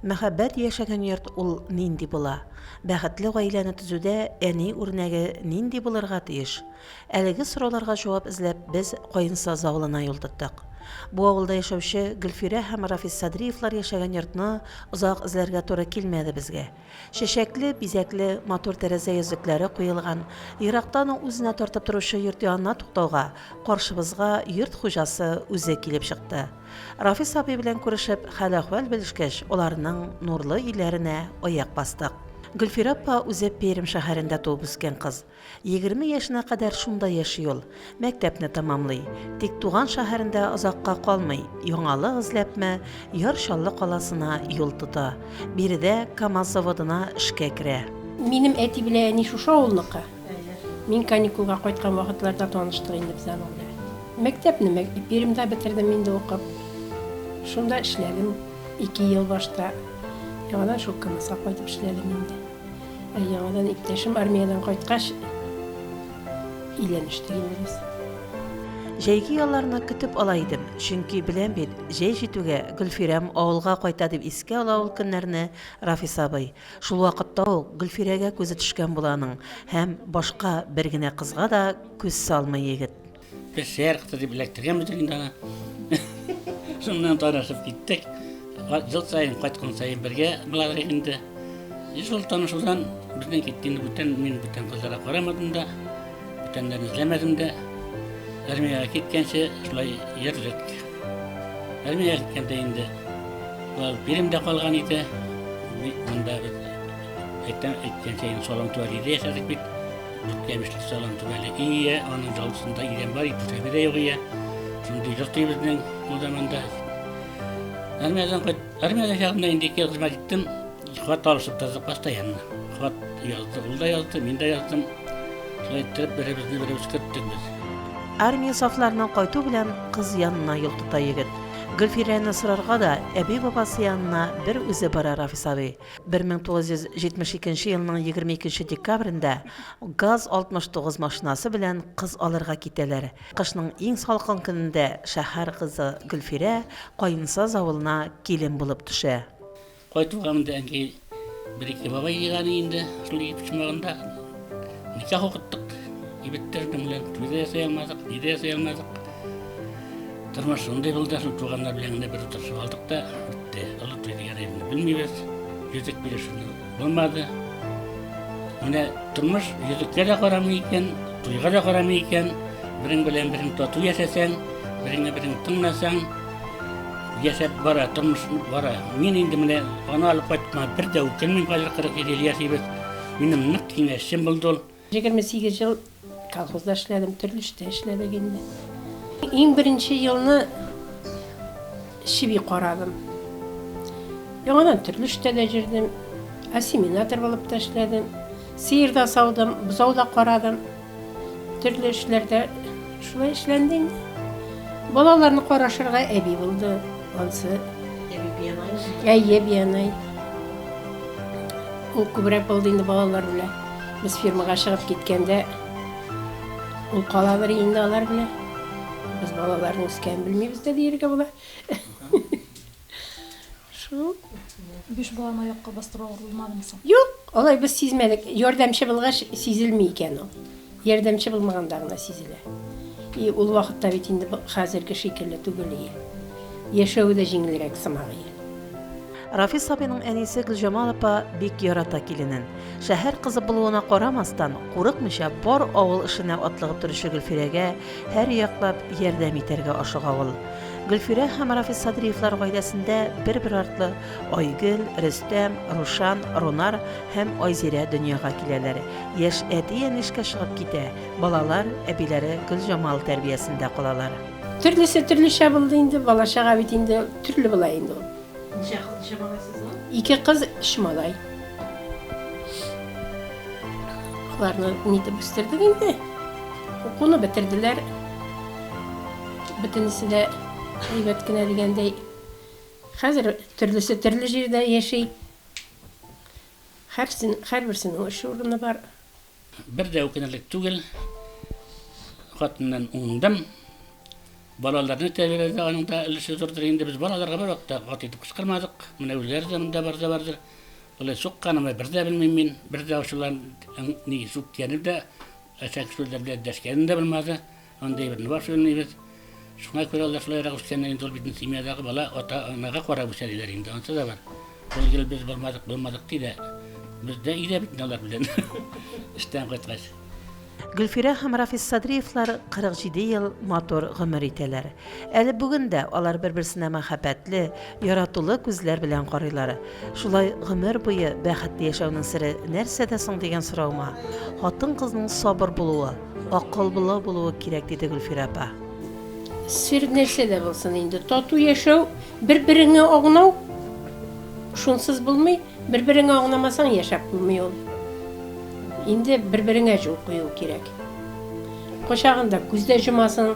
Мәхәббәт яшәгән йорт ул нинди була? Бәхетле гаиләне төзүдә әни үрнәге нинди булырга тиеш? Әлеге сорауларга җавап эзләп без Каенсаз авылына юл тоттык. Бу авылда яшәүче Гөлфирә һәм Рафис Садриевлар яшәгән йортны озак эзләргә туры килмәде безгә. Чәчәкле, бизәкле, матур тәрәзә йөзлекләре куелган, ерактан ук үзенә тартып торучы йорт янына туктауга, каршыбызга йорт хуҗасы үзе килеп чыкты. Рафис абый белән күрешеп, хәл-әхвәл белешкәч, аларның нурлы өйләренә аяк бастык. Гөлфирә апа үзе Пермь шәһәрендә туып-үскән кыз. Егерме яшенә кадәр шунда яши ул, мәктәпне тәмамлый. Тик туган шәһәрендә озакка калмый, яңалык эзләпме, Яр Чаллы каласына юл тота. Биредә КАМАЗ заводына эшкә керә. Минем әти белән әни шушы авылныкы. Мин каникулга кайткан вакытларда таныштык инде без аның белән. Мәктәпне Мәк Пермьдә бетердем инде укып. Шунда эшләдем ике ел башта. Яңадан шул КАМАЗга кайтып эшләдем инде. Ә яңадан иптәшем армиядән кайткач, өйләнештек инде без. Җәйге ялларны көтеп ала идем, чөнки беләм бит, җәй җитүгә Гөлфирәм авылга кайта, дип искә ала ул көннәрне Рафис абый. Шул вакытта ук Гөлфирәгә күзе төшкән була аның һәм башка бер генә кызга да күз салмый егет. Песер кызы дип эләктергәнбездер инде аны. Шуннан танышып киттек. Жыл сайын кайткан сайын бергә булалар инде. Шул танышудан безнең киткән бүтән мин бүтән кызларга карамадым да, бүтәннәрне эзләмәдем дә. Армиягә киткәнче шулай йөрдек. Армиягә киткәндә инде ул биремдә калган иде. Монда без әйтәм, әйткәнчә инде салам туар иде яшәдек бит. Ямешлек салам түбәле ие, аның жалгысында идән бар, ипотека да юк ие. Шундый йорт ие безнең ул заманда. Армиядән кайт, армиядә чагында инде ике хезмәт иттем. Хат алышып тордык постоянно. Хат язды, ул да язды, мин дә яздым. Шулай иттереп беребезне беребез көттек без. Армия сафларының кайту белән кыз янына юл тота егет. Гөлфирәне сорарга да әби-бабасы янына бер үзе бара Рафис абый. Бер мең тугыз йөз җитмеш икенче елның егерме икенче декабрендә ГАЗ-69 машинасы белән кыз алырга китәләр. Кышның иң салкын көнендә шәһәр кызы Гөлфирә Каенсаз авылына килен булып төшә. Кайтуга монда әнкәй бер-ике бабай җыйган иде инде, шул җиде почмагында. Никах укыттык, егеттердем белән, туйда ясый алмадык, нидә ясый алмадык. Тормыш шундый булды, шул туганнар белән генә бер утырышып алдык та, бетте. Олы туй дигән әйберне белмибез, йөзек бирешүне булмады. Менә тормыш йөзеккә дә карамый икән, туйга да карамый икән, берең белән берең тату яшәсәң, береңне берең тыңласаң, яшәп бара, тормыш бара. Мин инде менә аны алып кайтма, бер дә үкенмим, хәзер 47 ел яшибез. Минем нык киңәшчем булды ул. 28 ел колхозда эшләдем, төрле эштә эшләдек инде. Иң беренче елны чеби карадым. Яңадан төрле эштә дә җөрдем, ассиминатор булып та эшләдем. Сыер да саудым, бозау да карадым. Төрле эшләрдә шулай эшләнде инде. Балаларны карашырга әби булды. Ансы. Әби биянай. Әйе, биянай. Ул күбрәк булды инде балалар белән. Без фирмага чыгып киткәндә ул каладыр инде алар белән. Без балаларның үскәнен белмибез дә диергә була. Шул. Биш баланы аякка бастыру авыр булмадымы соң? Юк, алай без сизмәдек. Ярдәмче булгач сизелми икән ул. Ярдәмче булмаганда гына сизелә. И ул вакытта бит инде хәзерге шикелле түгел ие. Яшәве дә җиңелрәк сымак ие. Рафис абыйның әнисе Гөлҗамал апа бик ярата киленен. Шәһәр кызы булуына карамастан, курыкмыйча бар авыл эшенә атлыгып торучы Гөлфирәгә, Һәр яклап ярдәм итәргә ашыга ул. Гөлфирә һәм Рафис Садриевлар гаиләсендә бер-бер артлы Айгөл, Рөстәм, Рушан, Рунар һәм Айзирә дөньяга киләләр. Яшь әти-әни эшкә чыгып китә, балалар әбиләре Гөлҗамал тәрбиясендә калалар. Төрлесе төрлечә булды инде, бала-чага бит инде төрле була инде ул. Ничә кыз, ничә малай сезнең? Ике кыз, өч малай. Аларны нитеп үстердек инде. Укуны бетерделәр. Бөтенесе дә әйбәт кенә дигәндәй. Хәзер төрлесе төрле җирдә яши. Һәрсен, һәрберсенең эш урыны бар. Бер дә үкенерлек түгел, хатыннан уңдым. Балаларны тәрбияләүдә аның да өлеше зурдыр. Инде без балаларга бер вакытта ат итеп кычкырмадык. Менә үзләре дә монда барда бардыр. Болай сукканымны бер дә белмим мин. Бер дә ачулан, ни сүккәнем дә, әчәк сүзләр белән дәшкәнем дә булмады. Андый бер бар шуныбыз. Шуңа күрә ул да шулайрак үскәннәр инде, ул бит семьядагы бала, ата-анага карап үсә диләр инде, ансы да бар. Ул ел без булмадык, булмадык ди дә, без дә өйдә бит алар белән эштән кайткач. Гөлфирә һәм Рафис Садриевлар 47 ел матур гомер итәләр. Әле бүген дә алар бер-берсенә мәхәббәтле, яратулы күзләр белән карыйлар. Шулай гомер буе бәхетле яшәүнең сере нәрсәдә соң дигән сораума, хатын-кызның сабыр булуы, акыллы булуы кирәк, диде Гөлфирә апа. Сер нәрсәдә булсын инде, тату яшәү, бер-береңә агынау, шунсыз булмый, бер-береңә агынамасаң, яшәп булмый ул. Инде бер-береңә җул кую кирәк. Кочагында күз дә җомасың.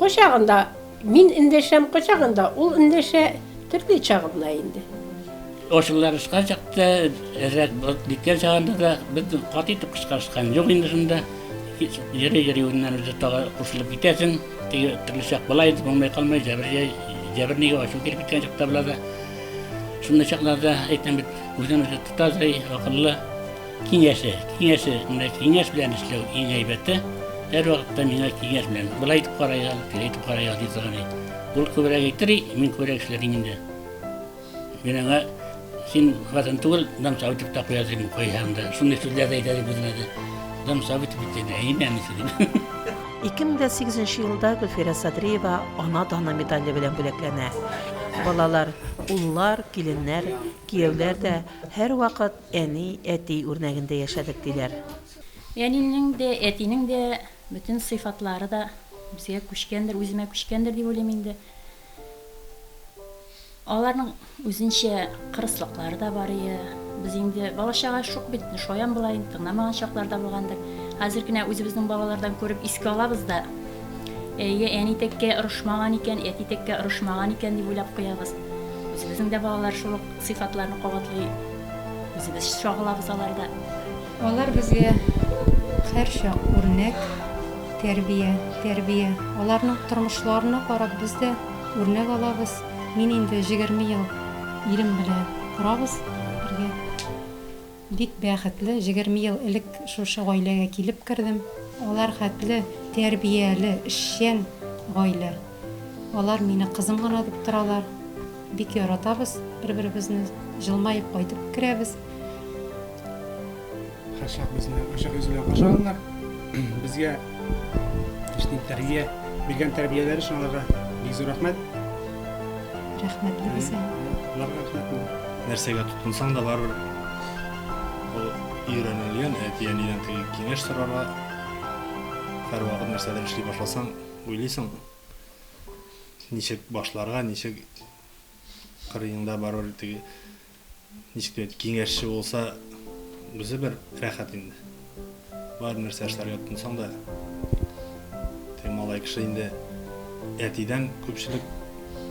Кочагында мин эндәшәм, кочагында ул эндәшә, төрле чагында инде. Ошыларышка чакта, рәт биткән чагында да без кат итеп кычкырышкан юк инде шунда. Йөри-йөри үзеннән үзе тагы кушылып китәсең. Теге төрле чак була инде, булмай калмай, җәбер җәбер нигә ачу килеп киткән чакта була да. Шундый чакларда әйтәм бит, үзен үзе тота, акыллы. Киңәше, киңәше, менә киңәш белән эшләү иң әйбәте. Һәр вакытта миңа киңәш белән, былай итеп карайга, тиләй итеп карайга ди торган ди. Ул күбрәк әйтер, мин күбрәк эшләрим инде. Мин аңа син хатын түгел, дам сау итеп тә куя дим, куйһаң да. Шундый сүзләр дә әйтә ди безгә дә. Дам сау итеп бит дә, әйме әнисе дим. 2008 елда Гөлфирә Садриева ана даны медале белән бүләкләнә. Балалар, уллар, киленнәр, кияүләр дә һәрвакыт Әни, әти үрнәгендә яшәдек, диләр. Әнинең дә, әтинең дә бөтен сыйфатлары да безгә күчкәндер, үземә күчкәндер дип уйлыйм инде. Аларның үзенчә кырыслыклары да бар иде. Без инде бала-чага шук бит, шаян булаен, тыңламаган чаклар да булгандыр. Хәзер генә үзебезнең балалардан күреп искә алабыз да, әйе, әни тәккә орышмаган икән, әти тәккә орышмаган икән дип уйлап куябыз. Үзебезнең дә балалар шул ук. Сыйфатларны кабатлый үзебез чагылабыз аларда. Алар безгә һәрчак үрнәк, тәрбия, тәрбия. Аларның тормышларына карап без дә үрнәк алабыз. Мин инде җегерме ел ирем белән торабыз бергә. Бик бәхетле, җегерме ел элек шушы гаиләгә килеп кердем. Алар хәтле тәрбияле, эшчән гаилә. Алар мине кызым гына дип торалар. Бик яратабыз бер-беребезне, җылмаеп кайтып керәбез. Һәрчак безне ачык йөз белән каршы алганнар. Безгә. Эшли тәрбия, биргән тәрбияләре өчен аларга бик зур рәхмәт. Рәхмәтле без аңа. Аларга рәхмәт. Нәрсәгә тотынсаң да барыбер ул өйрәнелгән, әти-әнидән теге киңәш сорарга. Һәрвакыт нәрсәдер эшли башласаң, уйлыйсың, ничек башларга, ничек кырыеңда барыбер теге Ничек тә итеп киңәшче булса, үзе бер рәхәт инде. Бар нәрсә эшләргә тотынсаң да, теге малай кеше инде әтидән күпчелек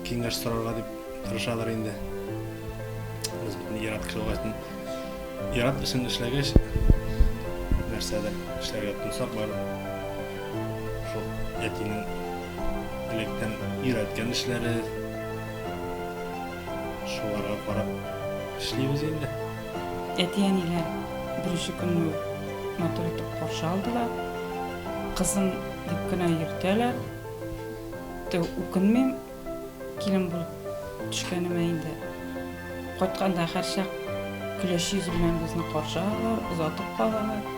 киңәш сорарга дип тырышадыр инде. Без бит ират кеше булгач, ират эшен эшләгәч, нәрсәдер эшләргә тотынсак, бар шул әтинең электән өйрәткән эшләре, Шуларга карап эшлибез инде. Әти-әниләр беренче көнне үк матур итеп каршы алдылар. Кызым дип кенә йөртәләр. Тө, үкенмим, килен булып төшкәнемә инде. Кайтканда һәрчак көләч йөз белән безне каршы алалар, озатып калалар.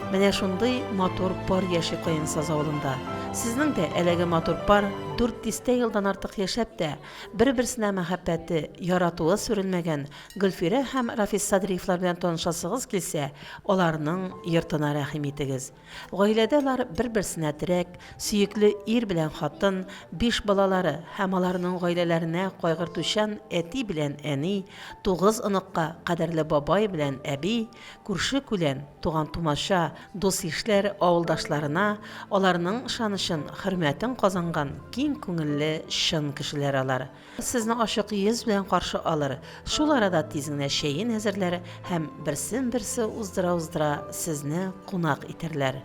Менә шундый матур пар яши Каенсаз авылында. Сезнең дә әлеге матур пар дүрт дистә елдан артык яшәп тә, Бер-берсенә мәхәббәте, яратуы сүрелмәгән Гөлфирә һәм Рафис Садриевлар белән танышасыгыз килсә, аларның йортына рәхим итегез. Гаиләдә алар бер-берсенә терәк, сөекле ир белән хатын, биш балалары һәм аларның гаиләләренә кайгыртучан әти белән әни, тугыз оныкка кадерле бабай белән әби, Күрше-күлән, туган-тумача, дус-ишләр, авылдашларына аларның ышанычын, хөрмәтен казанган киң күңелле, чын кешеләр алар. Сезне ачык йөз белән каршы алыр, шул арада тиз генә чәен әзерләр һәм берсен-берсе уздыра-уздыра сезне кунак итәрләр.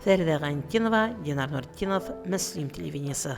Фәридә Гайнтдинова, Динар Нуртдинов, Мөслим телевидениесе.